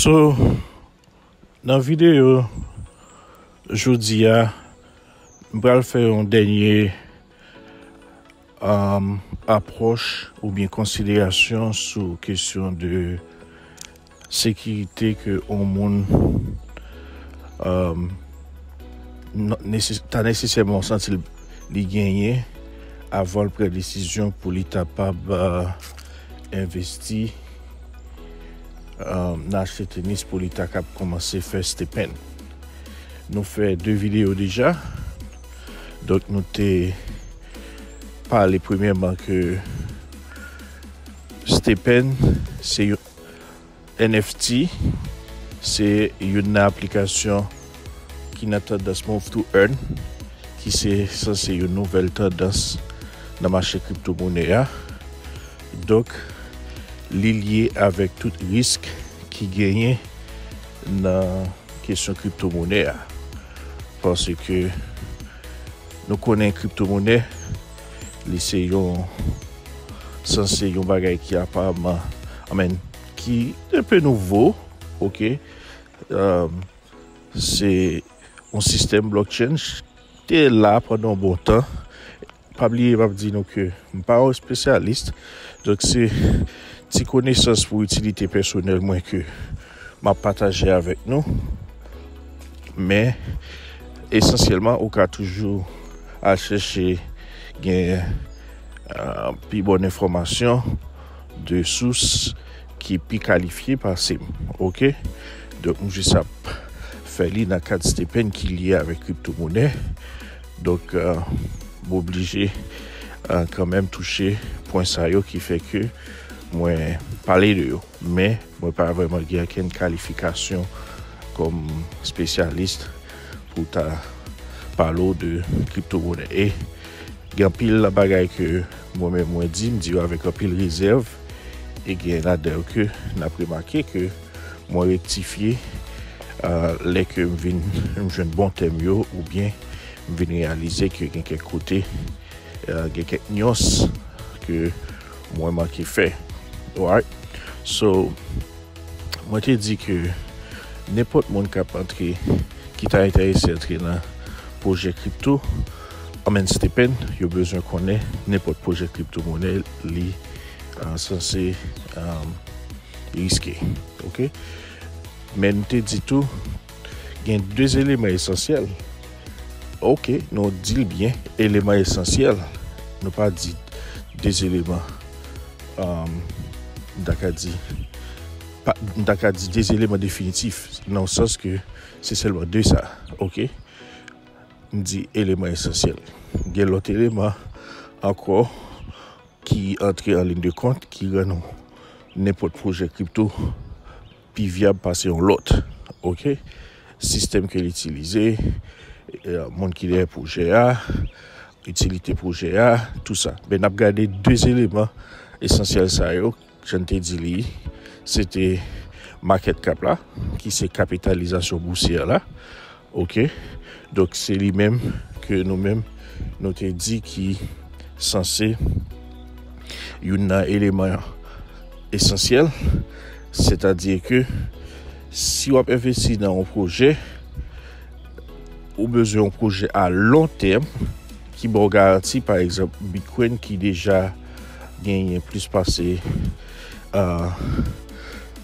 So nan videyo jodi a m pral fè yon dènye apwòch oubyen konsiderasyon sou kesyon de Sekirite ke yon moun ta nesesèman santi li genyen avan l pran desizyon pou li kapab envesti nan achte tenis pou li ta kab kòmanse fè stepen. Nou fè 2 videyo deja, donk nou te pale premyèman ke stepen se yon. NFT se youn nan aplikasyon ki nan tandans Move to Earn ki se sanse yon nouvèl tandans nan mache kripto mone a. Donk li lye avèk tout risk ki genyen nan kesyon kripto mone a. Paske nou konnen kripto mone Li se yon sanse yon bagay ki aparman amen ki un peu nouvo ok um, se yon sistèm blockchain te la pandan yon bon tan pa bliye map di nou ke m pa yon spesyalis donk se ti konesans pou itilite pèsonèl mwen ke M ap pataje avèk nou, men esansyèlman ou ka toujou al chèche gen pi bon enfòmasyon de sous ki pi kalifye pase m ok, donk m jis ap fè li nan kad stipend ki lye avèk kripto monè donk m oblije kanmèm touche pwen sa yo ki fè ke mwen pale de yo. Men, mwen pa vreman gen ankenn kalifikasyon kom spesyalist pou ta pale w de kripto monè. E, gen anpil nan bagay ke mwen menm mwen di, m di yo avek anpil rezèv. E gen ladan yo ke n ap remake ke mwen rektifye lè ke m vin m jwenn bon tèm yo ou byen m vin reyalize ke gen kèk kote gen kèk nuance ke Mwen manke fè. Alright. So, mwen te di ke nenpòt moun kap antre, ki ta enterese antre nan pwojè kripto, I mean Stephen, yo bezwen konnen nenpòt pwojè kripto monè li sanse riske. Ok. Men m te di tou, Gen 2 eleman esansyèl. Ok, nou di l byen, eleman esansyèl. Nou pa di 2 eleman. Um, m ta ka di, pa, m ta ka di 2 eleman definitif, nan w sans ke se sèlman 2 sa. Ok? M di eleman esansyèl. Gen lòt eleman ankò ki antre an lin de kont, ki rann nenpòt pwojè kripto pi vyab pase yon lòt ok sistèm ke l itilize moun ki dèyè pwojè a itilite pwojè a tou sa men n ap gade 2 eleman esansyèl sa yo jan n te di li se te makèt kap la ki se kapitalizasyon bousyè la Ok donk se li menm ke nou menm nou te di ki sanse youn nan eleman esansyèl sètadi ke si wap envesti nan yon pwojè ou bezwen yon pwojè a lon tèm ki baw garanti pa egzanp Bitcoin ki deja genyen plis pase aah.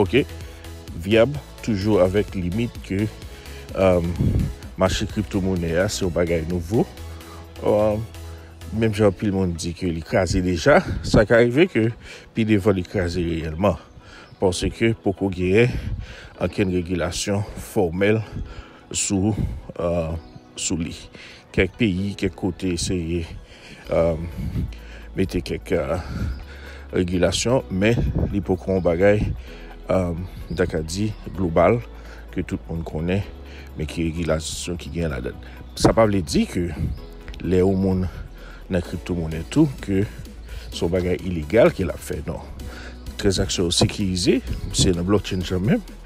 Ok vyab toujou avèk limit ke mache kripto monè a se yon bagay nouvo menm jan anpil moun di ke li kraze deja sa ka rive ke pi devan li kraze reyèlman paske poko genyen ankenn regilasyon fòmèl sou sou li. Kèk peyi, kèk kote eseye mete kèk regilasyon, men li poko yon bagay m ta ka di global ke tout moun konnen men ki regilasyon ki gen ladan l. Sa pa vle di ke lè yon moun nan kripto monnen tou ke se yon bagay ilegal ke l ap fè non. Tranzaksyon yo sekirize, se nan blockchain yo menm.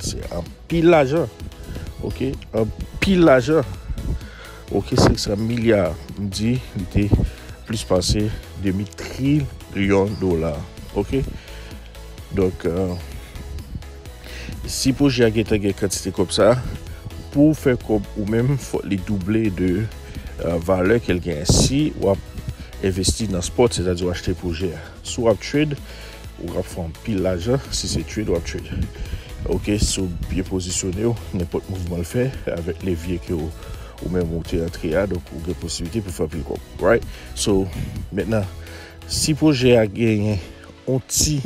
Se anpil lajan. Ok, anpil lajan. Ok, 500 milya, m di, li te plis pase demi trilyon dola. Ok, donk, euh, si pwojè a gen tan gen kantite kòb sa, pou w fè kòb ou menm, fòk li double de euh, valè ke l gen. Si w ap envesti nan spòt, sètadi w achte pwojè a. Si w ap trade, ou kab fè anpil lajan si se trade w ap trade. Ok, si w byen pozisyone w, nenpòt mouvman l fè avèk levye ke ou menm ou te antre a, donk ou gen posiblite pou fè anpil kòb. Right? So, mentnan, si pwojè a genyen yon ti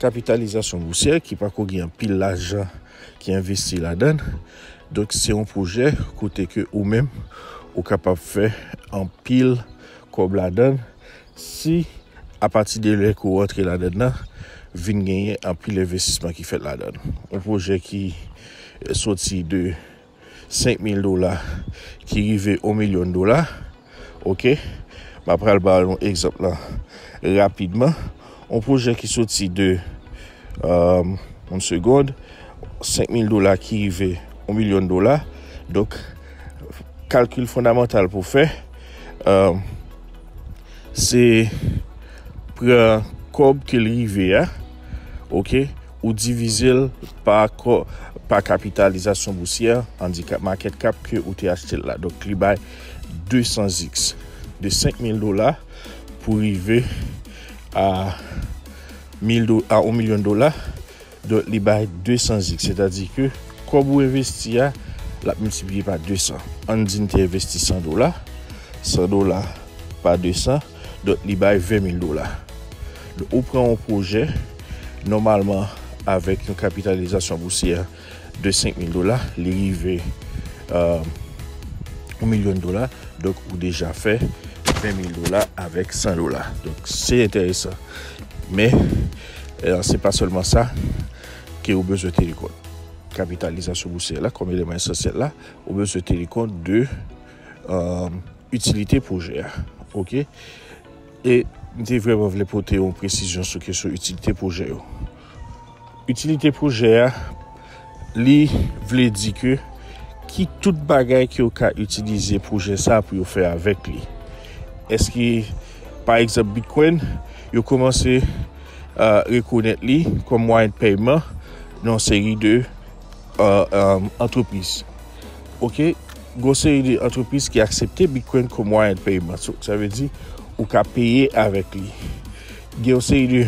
kapitalizasyon bousyè ki pa ko gen anpil lajan ki envesti ladann, donk se yon pwojè kote ke ou menm ou kapab fè anpil kòb ladann, Si apati de lè ke w rantre ladann nan, vin genyen anpil envestisman ki fèt ladann. Yon pwojè ki soti de 5000 dola ki rive 1 milyon dola, ok, m ap pral ba nou egzanp lan rapidman. Yon pwojè ki soti de, yon segond, 5000 dola ki rive 1 milyon dola. Donk, kalkil fondamantal pou fè. Se pran kob ke l rive a, ok, ou divize l pa kob, pa kapitalizasyon bousyè, andikap, market cap, ke ou te achte l la. Donk li bay 200x. De 5000 dola pou rive a 1 milyon dola. Donk li bay 200 zik. Sètadi ke kòb ou envesti a, l ap miltipliye pa 200. Ann di n te envesti 100 dola. 100 dola pa 200, donk li bay 20 mil dola. Donk ou pran yon pwojè, nòmalman avèk yon kapitalizasyon bousyè de 5 mil dola, li rive yon milyon dola. Donk ou deja fè 20 mil dola avèk 100 dola. Donk se enteresan. Men. Se pa sèlman sa ke ou bezwen teni kont. Kapitalizasyon bousyè la kòm eleman esansyèl la, ou bezwen teni kont de itilite pwojè a. Ok? E m te vreman vle pote yon presizyon sou kesyon itilite pwojè yo. Itilite pwojè a. Li vle di ke ki tout bagay ke yo ka itilize pwojè sa pou yo fè avèk li. Eske pa egzanp Bitcoin, yo koumanse rekonèt li kòm mwayen de pèyman nan yon seri de antrepriz. Ok, gon seri de antrepriz ki aksepte Bitcoin kòm mwayen de pèyman. So, sa vle di ou ka peye avèk li. Gen yon seri de...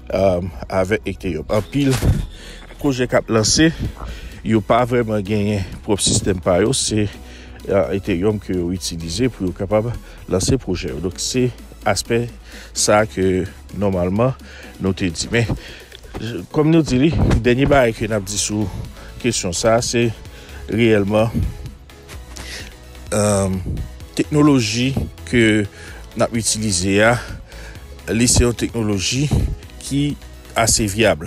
Avèk ekte yo. Anpil pwojè k ap lanse, yo pa vrèman genyen pwòp sistèm pa yo. Se Ethereum ke yo itilize pou yo kapab lanse pwojè yo. Donk se aspè sa ke nòmalman nou te di. Men, kòm nou di li, dènye bagay ke n ap di sou kesyon sa, se reyèlman. Teknoloji ke n ap itilize a, li se yon teknoloji ki ase vyab.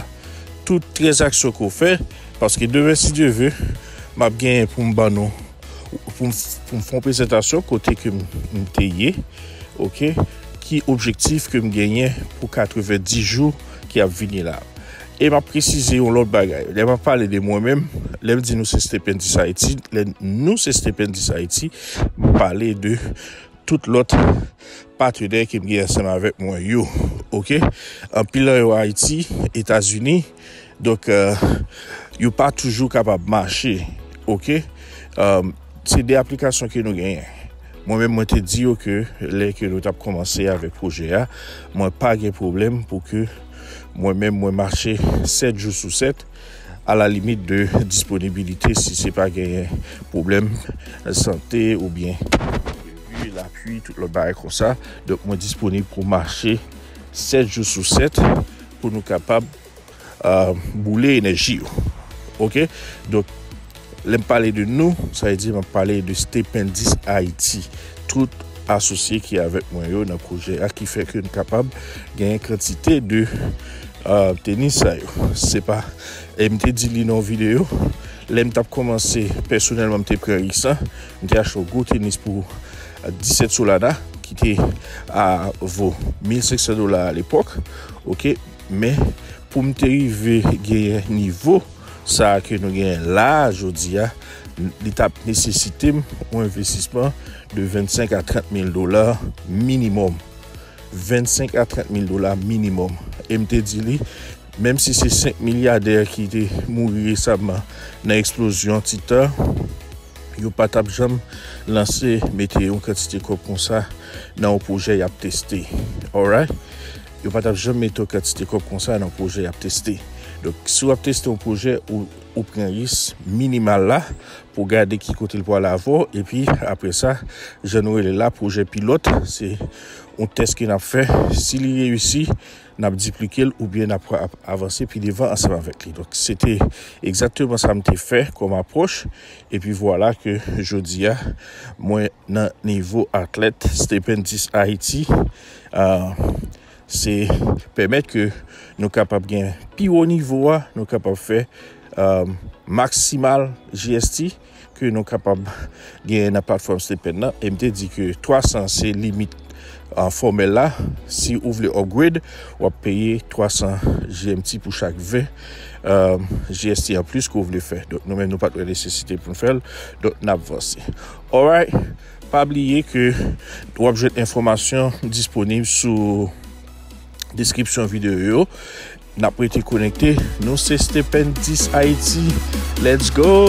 Tout tranzaksyon ke w fè, paske demen si Dye ve, m ap genyen pou m ban nou, pou m fè yon prezantasyon kote ke m te ye, ok, ki objektif ke m genyen pou 90 jou ki ap vini la. E m ap presize yon lòt bagay, lè m ap pale de mwen menm, lè m di nou se Stependis Ayiti, lè nou se Stependis Ayiti, m pale de tout lòt patenè ke m gen ansanm avèk mwen yo, ok? Anpil nan yo Ayiti, Etazini, donk yo pa toujou kapab mache, ok? Se 2 aplikasyon ke nou genyen. Mwen menm mwen te di yo ke lè ke nou tap komanse avèk pwojè a, mwen pa gen pwoblèm pou ke mwen menm mwen mache 7 jou sou 7 a la limit de disponibilite si se pa genyen pwoblèm sante ou byen depi lapui tout lòt bagay konsa. Donk mwen disponib pou mache 7 jou sou 7 pou nou kapab. boule enèji yo. Ok, donk lè m pale de nou, sa vle di m ap pale de Stependis Ayiti, tout asosye ki avèk mwen yo nan pwojè a ki fè ke n kapab genyen kantite de tenis sa yo. Se pa, e m te di li nan yon videyo, lè m t ap kòmanse, pèsonèlman m te pran risk lan, m te achte yon gwo tenis pou 17 solada ki te a vo 1500 dola alepòk, ok. Men, pou m te rive genyen nivo sa a ke nou genyen la a jodi a, li t ap nesesite m yon envestisman de 25 a 30 mil dola minimòm. 25 a 30 mil dola minimòm. E m te di li, menm si se 5 milyadè ki te mouri resamman nan eksplozyon Titan, yo pa t ap janm lanse, mete yon kantite kòb konsa nan yon pwojè y ap teste. Alright? Yo pa tap janm mete yon kantite kòb konsa nan pwojè yap teste. Donk, si wap teste yon pwojè, ou pran ris minimal la pou gade ki kote li pwale avè w. Epi, apre sa, jan nou rele la pwojè pilòt, se yon tès ke nap fè. Si li reyisi, nap diplike l oubyen nap avanse pi devan ansanm avèk li. Donk, se te egzakteman sa m te fè kòm apwòch. Epi vwala ke jodi a, mwen nan nivo atlèt Stephen X Ayiti. se pèmèt ke nou kapab gen pi wo nivo a, nou kapab fè maksimal GST ke nou kapab gen nan platfòm Stipend nan, e m te di ke 300 se limit fòmèl la, si ou vle upgrade w ap peye 300 GMT pou chak 20 GST anplis ke w vle fè, donk nou menm nou pa t wè nesesite pou n fè l, donk n ap vanse. Alright! Pa bliye ke w ap jwenn enfòmasyon disponib sou deskripsyon videyo yo. N ap rete konekte. Nou se Stependis Haiti. Let's go!